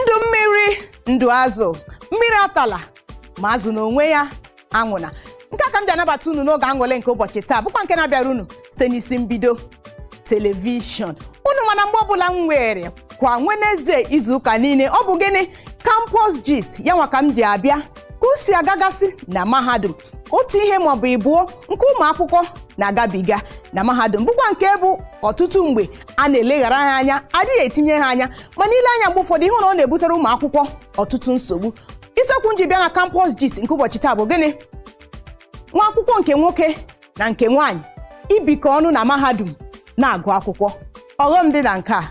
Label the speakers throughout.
Speaker 1: ndụ mmiri ndụ azụ mmiri atala ma azụ n'onwe ya anwụna nke a ka m ji anabata unu n'oge aṅụle nke ụbọchị taa bụkwa nke na-abịara unu site n'isi mbido telivishọn unu mana mgbe ọbụla m weere kwa Wenezdee izuụka niile ọ bụ gịnị campus gist ya nwa ka m ji abịa ka o si agagasị na mahadum otu ihe maọbụ ịbụọ nke ụmụ akwụkwọ na-agabiga na mahadum bụkwa nke bụ ọtụtụ mgbe a na-eleghara ha anya a dịghị etinye ha anya mana i lee anya mgbe ụfọdụ ị hụ na ọ na-ebutere ụmụ akwụkwọ ọtụtụ nsogbu isiokwu m ji bịa na campus gist nke ụbọchị taa bụ gịnị nwa akwụkwọ nke nwoke na nke nwaanyị ibikọ ọnụ na mahadum na-agụ akwụkwọ ọghọm dị na nke a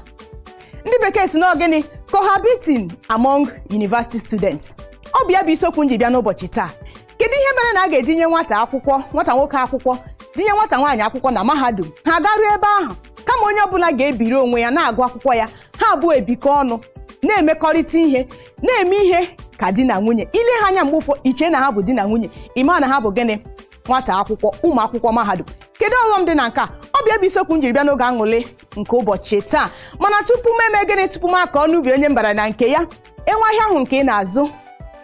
Speaker 1: ndị bekee sị na gịnị cohabiting among university students ọ bụ ya bụ isiokwu m ji bịa n'ụbọchị taa kedu ihe mere na a ga-edinye nwata akwụkwọ nwata nwoke akwụkwọ dinye nwata nwaanyị akwụkwọ na mahadum ha garuo ebe ahụ kama onye ọbụla ga-ebiri onwe ya na-agụ akwụkwọ ya ha abụọ ebikọ ọnụ na-emekọrịta ihe na-eme ihe ka di na nwunye i lee ha anya mgbe ụfọ i chee na ha bụ di na nwunye ị ma na ha bụ gịnị nwata akwụkwọ ụmụ akwụkwọ mahadum kedu ọghọm dị na nke a ọ bụ ya bụ isiokwu m jiri bịa n'oge aṅụlị nke ụbọchị taa mana tupu m eme gịnị tupu m aka ọnụ ubi onye mbara na nke ya e nwee ahịa ahụ nke ị na-azụ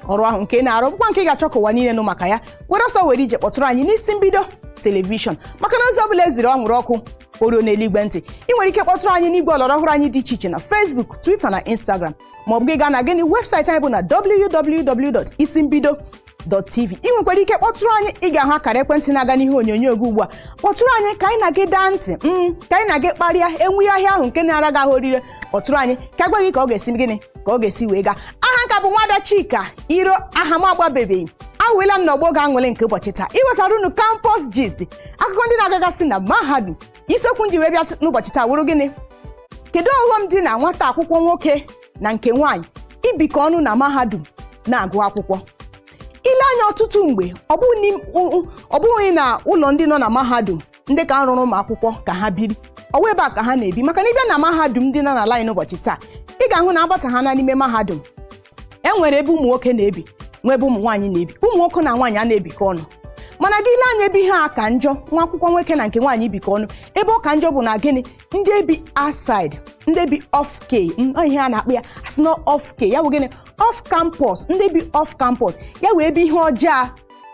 Speaker 1: ọrụ ahụ nke ị na-arụ bụkwa nke ị ga-achọ ka ụwa niile nụ maka ya were ọsọ were ije kpọtụrụ anyị n'isi mbido telivishọn maka na ozi ọ bụla e ziri anwụrụ ọkụ o ruona eluigwe ntị ị nwere ike kpọtụrụ anyị n'igwe ọlọrọ ọhụrụ anyị dị iche iche na Facebook Twitter na Instagram ma ọ bụ gị gaa na gịnị webụsaịtị anyị bụ na www.isimbido.tv ị nwekwara ike kpọtụrụ anyị ị ga-ahụ akara ekwentị na-aga n'ihe onyonyo gị ugbu a kpọtụrụ anyị ka anyị na gị daa ntị mm, ka anyị na gị kparịa e nwee ahịa ahụ nke na-ara gị ahụ orire kpọtụrụ anyị ka a gwa gị ka ọ ga-esi gịnị ka ọ ga-esi wee gaa aha m ka bụ nwada chika iro aha m agbanwebeghị awụela m n'ọgbọ oge aṅụlị nke ụbọchị taa iwetara unu campus gist akụkọ ndị na-agagasị na mahadum isiokwu m ji wee bịa n'ụbọchị taa wụrụ gịnị kedu ọghọm dị na nwata akwụkwọ nwoke na nke nwaanyị ibikọ ọnụ na mahadum na-agụ akwụkwọ i lee anya ọtụtụ mgbe ọ bụghị n'im- ụ- ụ- ọ bụghị na ụlọ ndị nọ na mahadum ndị nke a rụrụ ụmụ akwụkwọ ka ha biri ọ wụ ebe a ka ha na-ebi maka na ị bịa na mahadum ndị nọ n'ala anyị n'ụbọchị taa ị ga-ahụ na agbata ha na n'ime mahadum e nwere ebe ụmụ nwoke na-ebi nwee ebe ụmụ nwaanyị na-ebi ụmụ nwoke na nwaanyị a na-ebikọ ọnụ mana gị lee anya ebe ihe a ka njọ nwa akwụkwọ nwoke na nke nwaanyị ibikọ ọnụ ebe ọ ka njọ bụ na gịnị ndị bi outside ndị bi off k ihe a na-akpọ ya a sị na off k ya bụ gịnị off campus ndị bi off campus ya wụ ebe ihe ọjọọ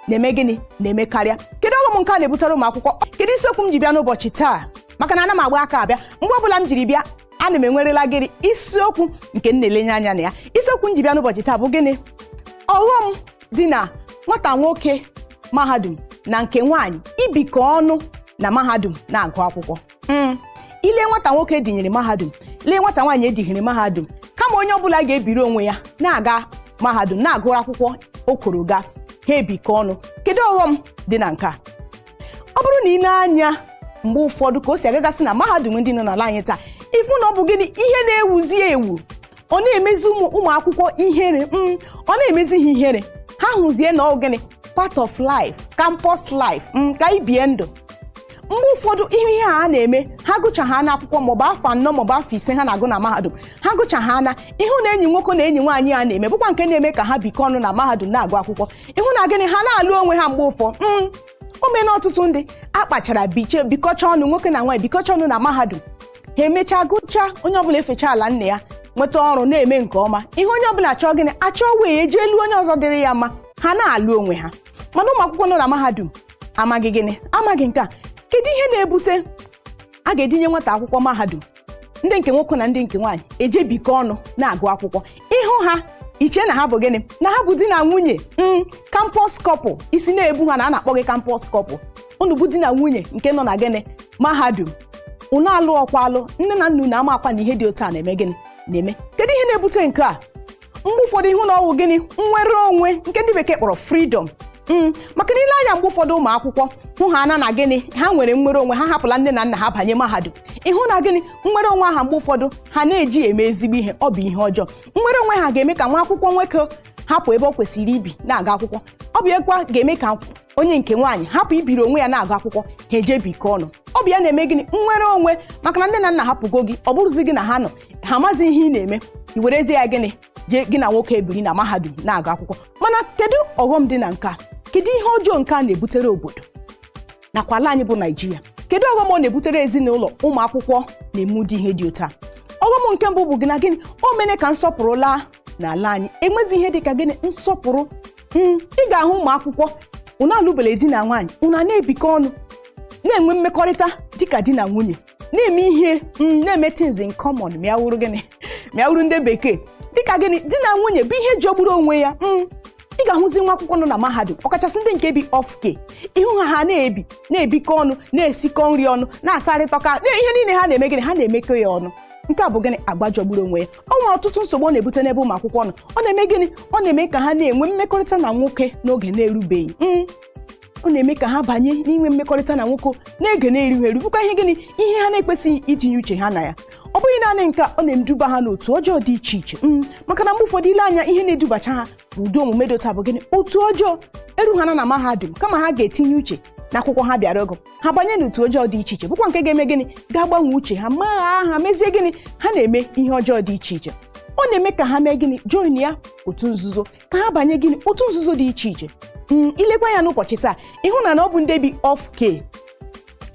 Speaker 1: na-eme gịnị na-emekarịa kedu ọghọm nke a na-ebutere ụmụ akwụkwọ kedu isiokwu m ji bịa n'ụbọchị taa maka na ana m agba aka abịa mgbe ọbụla m jiri bịa ana m enwerela gịnị isiokwu nke m na-elenye anya na ya isiokwu m ji bịa n'ụbọchị taa bụ gịnị ọghọm dị na nwata nwoke mahadum na nke nwaanyị ibikọ ọnụ na mahadum na-agụ akwụkwọ Hmm. i lee nwata nwoke edinyere mahadum lee nwata nwaanyị edinyere mahadum kama onye ọbụla ga-ebiri onwe ya na-aga mahadum na-agụrụ akwụkwọ o kworo ga ha ebikọ ọnụ kedu ọghọm dị na nke a ọ bụrụ na i nee anya mgbe ụfọdụ ka o si agagasị na mahadum ndị nọ n'ala anyị taa ịfụ na ọ bụ gịnị ihe na-ewuzi ewu ọ na-emezi ụmụ ụmụ akwụkwọ ihere mm, ọ na-emezi ha ihere ha hụzie na ọ gịnị part of life campus life mm, ka anyị bie ndụ mgbe ụfọdụ ihe ihe a na-eme ha gụchahana akwụkwọ maọbụ afọ anọ maọbụ afọ ise ha na-agụ na mahadum ha gụchahana ịhụ na enyi nwoke na enyi nwaanyị a na-eme bụkwa nke na-eme ka ha bikọ ọnụ na mahadum na-agụ akwụkwọ ịhụ na gịnị ha na-alụ onwe ha mgbe ụfọ mm, o mee na ọtụtụ ndị akpachara biche bikọcha ọnụ nwoke na nwaanyị bikọcha ọnụ na mahadum ha emechaa gụchaa onye ọbụla efecha ala nna ya nweta ọrụ na-eme nke ọma ịhụ onye ọbụla achọọ gịnị achọwe ije lụọ onye ọzọ dịrị ya mma ha na-alụ onwe ha mana ụmụ akwụkwọ nọ na mahadum amaghị gịnị amaghị nke a kedu ihe na-ebute a ga-edinye nwata akwụkwọ mahadum ndị nke nwoke na ndị nke nwaanyị eje bikọ ọnụ na-agụ akwụkwọ ịhụ ha i chee na ha bụ gịnị na ha bụ di na nwunye mm, campus couple isi na-ebu ha na a na-akpọ gị campus couple unu bụ di na nwunye nke nọ na gịnị mahadum unu alụrọkwa alụ nne na nna unu amakwa na ihe dị otu a na-eme gịnị na-eme kedu ihe na-ebute nke a mgbe ụfọdụ ịhụ na ọ wụ gịnị nnwere onwe nke ndị bekee kpọrọ freedom Mm, maka na i lee anya mgbe ụfọdụ ụmụ akwụkwọ hụhaana na gịnị ha nwere nnwere onwe ha hapụla nne na nna ha banye mahadum ịhụ na gịnị nnwere onwe ahụ mgbe ụfọdụ ha na-eji ya eme ezigbo ihe ọ bụ ihe ọjọọ nnwere onwe ha ga-eme ka nwa akwụkwọ nwoke hapụ ebe ọ kwesịrị ibi na-aga akwụkwọ ọ bụ yakwa ga-eme ka onye nke nwaanyị hapụ ibiri onwe ya na-agụ akwụkwọ ha eje bikọ ọnụ ọ bụ ya na-eme gịnị nnwere onwe maka na nne na nna hapụgo gị ọ bụrọzi gị na ha nọ ha amazi ihe ị na-eme i werezie ya gịnị jee gị na nwoke ebiri na mahadum na-agụ akwụkwọ mana kedu ọghọm dị na nke a kedu ihe ọjọọ nke a na-ebutere obodo nakwa ala anyị bụ naijiria kedu ọghọm ọ na-ebutere ezinụlọ ụmụ akwụkwọ na-eme ụdị ihe dị otu a ọghọm nke mbụ bụ gị na gịnị o mere ka nsọpụrụ laa n'ala anyị enwezi ihe dị ka gịnị nsọpụrụ Mm, ị ga-ahụ ụmụ akwụkwọ unu alụbele di na nwaanyị unu a na-ebikọ ọnụ na-enwe mmekọrịta dịka di na nwunye na-eme ihe mm, na-eme things in common ma ya wụrụ gịnị ma ya wụrụ ndị bekee dịka gịnị di na nwunye bụ ihe jọgburu onwe ya mm, ị ga-ahụzi nwa akwụkwọ nọ na mahadum ọkachasị ndị nke bi off-K ịhụ ha ha na-ebi na-ebikọ ọnụ na-esikọ nri ọnụ na-asarịta ụka na ihe niile ha na-eme gịnị ha na-emekọ ya ọnụ nke a bụ gịnị agwa jọgburu onwe ya ọ nwere ọtụtụ nsogbu ọ na-ebute n'ebe ụmụ akwụkwọ nọ ọ na-eme gịnị ọ na-eme ka ha na-enwe mmekọrịta na nwoke n'oge na-erubeghị Mm, ọ na-eme ka ha banye n'inwe mmekọrịta na nwoke n'oge na-erughị eru bụkwa ihe gịnị ihe ha na-ekwesịghị itinye uche ha na ya ọ bụghị naanị nke a, ọ na-eduba ha n'otu ọjọọ dị iche iche Mm, maka na mgbe ụfọdụ ile anya ihe na-edubacha ha n'ụdị omume dị otu a bụ gịnị otu ọjọọ eru ha na na mahadum kama ha ga-etinye uche na akwụkwọ ha bịara ọgụ ha banye n'otu ọjọọ dị iche iche bụkwa nke ga-eme gịnị ga-agbanwe uche ha magha ha mezie gịnị ha na-eme ihe ọjọọ dị iche iche ọ na-eme ka ha mee gịnị join ya otu nzuzo ka ha banye gịnị otu nzuzo dị iche iche mm, ilekwa ya n'ụbọchị taa ịhụ na na ọ bụ ndị bi off k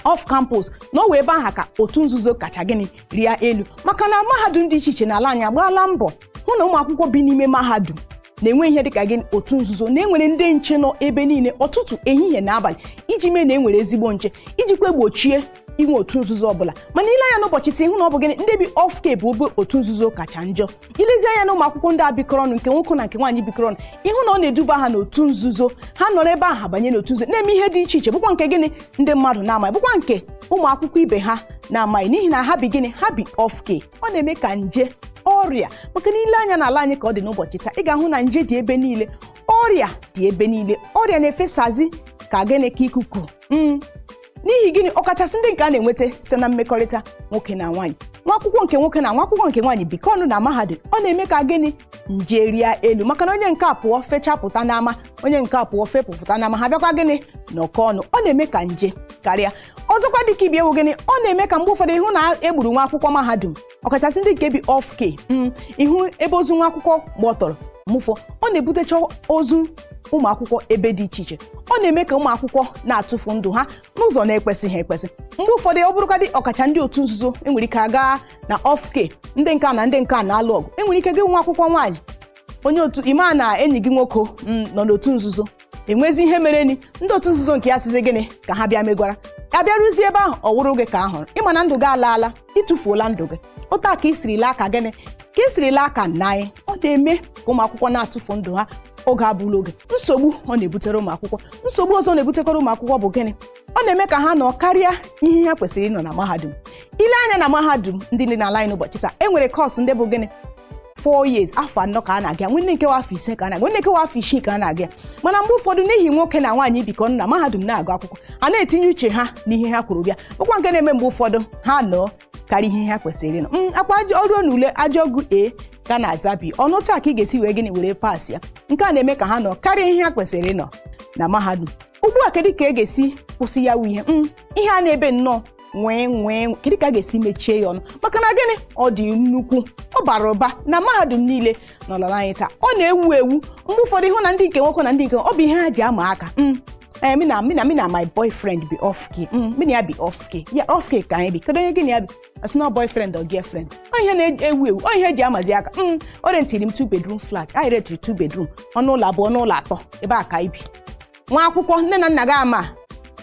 Speaker 1: off campus na ọ wụ ebe aha ka otu nzuzo kacha gịnị rịa elu maka na mahadum dị iche iche n'ala anyị agbaala mbọ hụ na ụmụ akwụkwọ bi n'ime mahadum na enweghị ihe dịka gịnị otu nzuzo na enwere ndị nche nọ ebe niile ọtụtụ ehihie na abalị iji mee na enwere ezigbo nche ijikwa gbochie inwe otu nzuzo ọbụla mana ile anya n'ụbọchị taa ịhụ na ọ bụ gịnị ndị bi off k bụ ebe otu nzuzo kacha njọ ilezi anya na ụmụ akwụkwọ ndị a bikọrọ ọnụ nke nwoke na nke nwaanyị bikọrọ ọnụ ịhụ na ọ na-eduba ha n'otu nzuzo ha nọrọ ebe ahụ banye n'otu nzuzo na-eme ihe dị iche iche bụkwa nke gịnị ndị mmadụ na-amaghị bụkwa nke ụmụ akwụkwọ ibe ha na-amaghị n'ihi na ha bi gịnị ha bi off k ọ na-eme ka nje ọrịa maka na ile anya n'ala anyị ka ọ dị n'ụbọchị taa ị ga-ahụ na nje dị ebe niile ọrịa dị ebe niile ọrịa na-efesazi ka gịnị ka ikuku Mm. n'ihi gịnị ọkachasị ndị nke a na-enweta site na mmekọrịta nwoke na nwaanyị nwa akwụkwọ nke nwoke na nwa akwụkwọ nke nwaanyị bikọ ọnụ na mahadum ọ na-eme ka gịnị nje rịa elu maka na onye nke a pụọ fechapụta n'ama onye nke a pụọ fepụpụta n'ama ha bịakwa gịnị nọkọ ọnụ ọ na-eme ka nje karịa ọzọkwa dịka ibe ya wụ gịnị ọ na-eme ka mgbe ụfọdụ ịhụ na egburu nwa akwụkwọ mahadum ọkachasị ndị nke bi off k mm, ịhụ ebe ozu nwa akwụkwọ gbọtọrọ mgbe ụfọdụ ọ na-ebutecha ozu ụmụ akwụkwọ ebe dị iche iche ọ na-eme ka ụmụ akwụkwọ na-atụfu ndụ ha n'ụzọ na-ekwesịghị ekwesị mgbe ụfọdụ ọ bụrụkadị ọkacha ndị otu nzuzo enwere ike aga na off k ndị nke a na ndị nke a na-alụ ọgụ enwere ike gị nwa akwụkwọ nwaanyị onye otu ịma na enyi gị nwoke mm, nọ n'otu nzuzo enwezi ihe merenụ ndị otu nzuzo nke ya sịzi gịnị ka ha bịa megwara ya bịaruzie ebe ahụ ọ wụrụ gị ka a hụrụ ịma na ndụ gị alaala ịtụfuola ndụ gị otu a ka isiri laa aka gịnị ka isiri laa aka nna anyị ọ na-eme ka ụmụ akwụkwọ na-atụfu ndụ ha oge abụla oge nsogbu ọ na-ebutere ụmụ akwụkwọ nsogbu ọzọ na-ebutekwara ụmụ akwụkwọ bụ gịnị ọ na-eme ka ha nọ karịa ihe ha kwesịrị ịnọ na mahadum ile anya na mahadum ndị dị n'ala anyị n'ụbọchị taa e nwere kọọsụ ndị bụ gịnị four years afọ anọ ka a na-aga nwe ndị nke wụ afọ ise ka a na-aga nwe ndị nke wụ afọ isii ka a na-aga mana mgbe ụfọdụ n'ihi nwoke na nwaanyị bikọ na mahadum na-agụ akwụkwọ anaghị etinye uche ha n'ihe ha kwuru bịa bụkwa nke na-eme mgbe ụfọdụ ha nọọ karịa ihe ha kwesịrị ịnọ ọkwa e ruo na ule a jụọ gị A ka na-aza B olee otu a ka ị ga-esi wee gịnị were pass ya nke a na-eme ka ha nọ karịa ihe ha kwesịrị ịnọ na mahadum ugbu a kedu ka e ga-esi kwụsị ya wụ ihe m ihe a na-ebe nnọọ nwee nwee nwee. kedu ka a ga-esi mechie ya ọnụ maka na gịnị ọ dị nnukwu ọ bara ụba na mahadum niile n'ala ala anyị taa ọ na-ewu ewu mgbe ụfọdụ ịhụ na ndị nke nwoke na ndị nke nwaanyị, ọ bụ ihe ha ji ama aka m ee mụ na mụ na mụ na my boyfriend bi off k m mụ na ya bi off k ya off k ka anyị bi kedu onye gị na ya bi asị na boyfriend or girlfriend ọ ihe na-ewu ewu ọ ihe eji amazi aka m o rentiri m two bedroom flat anyị rentiri two bedroom ọnụ ụlọ abụọ ọnụ ụlọ atọ ebe a ka anyị bi nwa akwụkwọ nne na nna gị ama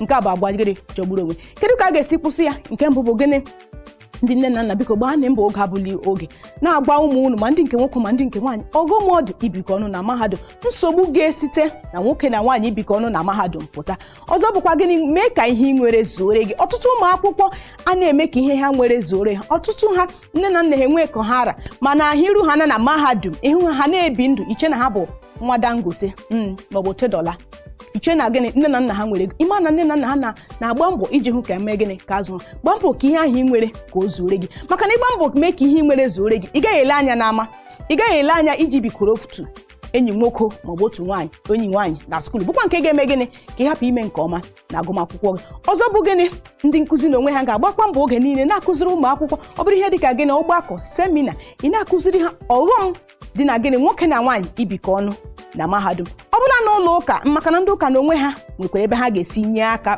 Speaker 1: nke a bụ agwa gịnị jọgburu onwe kedu ka a ga-esi kwụsị ya nke mbụ bụ gịnị ndị nne na nna biko gbaanụ mbọ oge abụla oge na-agwa ụmụ unu ma ndị nke nwoke ma ndị nke nwaanyị ọghọm ọ dị ibikọ ọnụ na mahadum nsogbu ga-esite na nwoke na nwaanyị ibikọ ọnụ na mahadum pụta ọzọ bụkwa gịnị mee ka ihe ị nwere zuore gị ọtụtụ ụmụ akwụkwọ a na-eme ka ihe ha nwere zuore ha ọtụtụ ha nne na nna ha enwe ka ọ hara mana ahụ iru ha na na mahadum ịhụ ha na-ebi ndụ iche na ha bụ nwa dangote mm, maọbụ otedola iche na gịnị nne na nna ha nwere ego ịma na nne na nna ha na- na-agba mbọ iji hụ ka emee gịnị ka azụ gbaa mbọ ka ihe ahụ ị nwere ka o zuore gị maka na ịgba mbọ mee ka ihe ị nwere zuore gị ị gaghị ele anya n'ama ị gaghị ele anya iji bikoro otu enyi nwoke maọbụ otu nwaanyị enyi nwaanyị na skuulu bụkwa nke ga-eme gịnị ka ị hapụ ime nke ọma na agụmakwụkwọ gị ọzọ bụ gịnị ndị nkụzi na onwe ha ga-agbakwa mbọ oge niile na-akụziri ụmụ akwụkwọ ọ bụrụ ihe dịka gịnị ọgbakọ semina ị na-akụziri ha ọghọm dị na gịnị nwoke na nwaanyị ibikọ ọnụ na mahadum ọ bụla na ụlọ ụka maka na ndị ụka na onwe ha nwekwara ebe ha ga-esi nye aka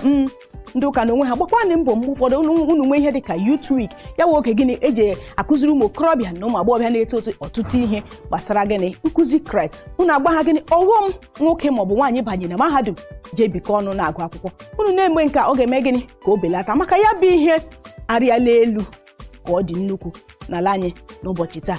Speaker 1: ndị ụka na onwe ha gbakwanụ mbọ mgbe ụfọdụ unu unu nwee ihe dị ka youth week ya wụ oge gịnị eji akụziri ụmụ okorobịa na ụmụ agbọghọbịa na-eto eto ọtụtụ ihe gbasara gịnị nkụzi kraịst unu agwa ha gịnị ọghọm nwoke maọbụ nwaanyị banye na mahadum jee bikọ ọnụ na-agụ akwụkwọ unu na-eme nke a ọ ga-eme gịnị ka o belata maka ya bụ ihe arịala elu ka ọ dị nnukwu n'ala anyị n'ụbọchị taa